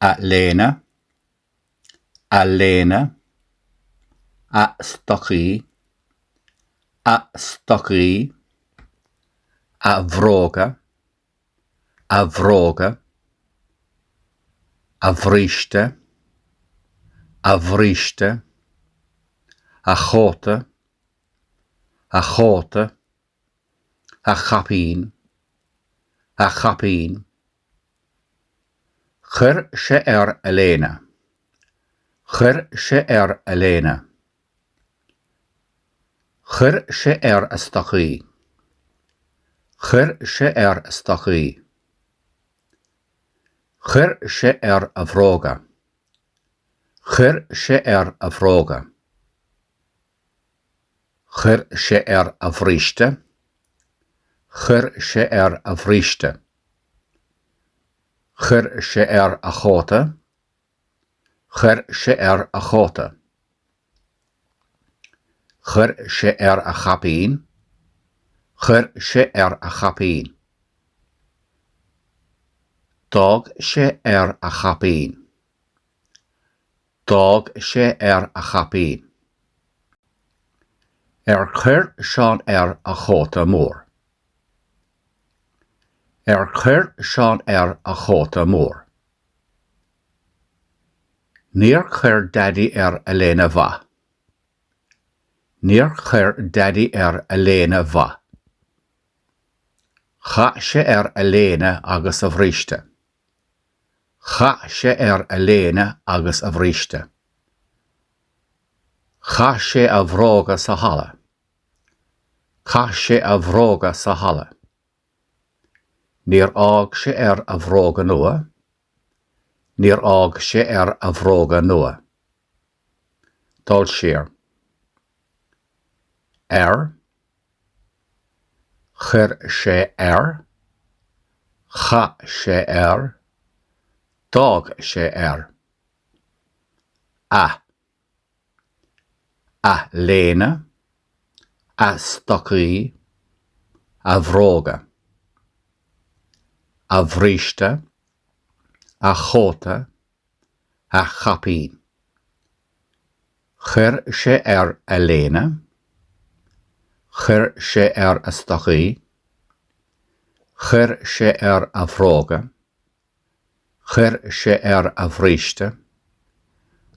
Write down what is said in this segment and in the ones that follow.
A léine, a léine, a stocaí, a stocaí, a bhróga, a bhróga, a bhríste, a bhríste, a chóta, a chóta. A chaipín! A chaipín! Chuir sé air a léine. Chuir sé air a léine. Chuir sé air a stocaí. Chuir sé air a stocaí. Chuir sé air a bhróga. Chuir sé air a bhróga. Chuir sé air a bhríste. Chuir sé air a bhríste. Chuir sé air a chóta. Chuir sé air a chóta. Chuir sé air a chaipín. Chuir sé air a chaipín. D'fhág sé air a chaipín. D'fhág sé air a chaipín. Ar chuir Seán air a chóta mór? Ar chuir Seán air a chóta mór? Níor chuir Daidí air a léine mhaith. Níor chuir Daidí air a léine mhaith. Chaith sé air a léine agus a bhríste. Chaith sé air a léine agus a bhríste. Chaith sé a bhróga sa halla. Chaith sé a bhróga sa halla. Níor fhág sé air a bhróga nua. Níor fhág sé air a bhróga nua. dul siar. Air. Chuir sé air. Chaith sé air. D'fhág sé air. A. A léine. A stocaí. A bhróga. A bhríste. A chóta. a chaipín. Chuir sé air a léine. Chuir sé air a stocaí. Chuir sé air a bhróga. Chuir sé air a bhríste.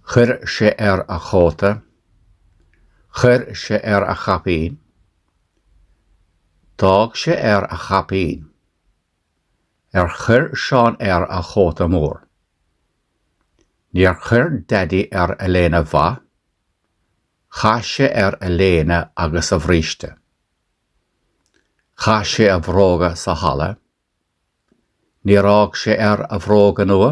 Chuir sé air a chóta. Chuir sé air a chaipín. D'fhág sé air a chaipín. Ar chuir Seán air a chóta mór? Níor chuir Daidí air a léine mhaith. Chaith sé air a léine agus a bhríste. Chaith sé a bhróga sa halla. Níor fhág sé air a bhróga nua.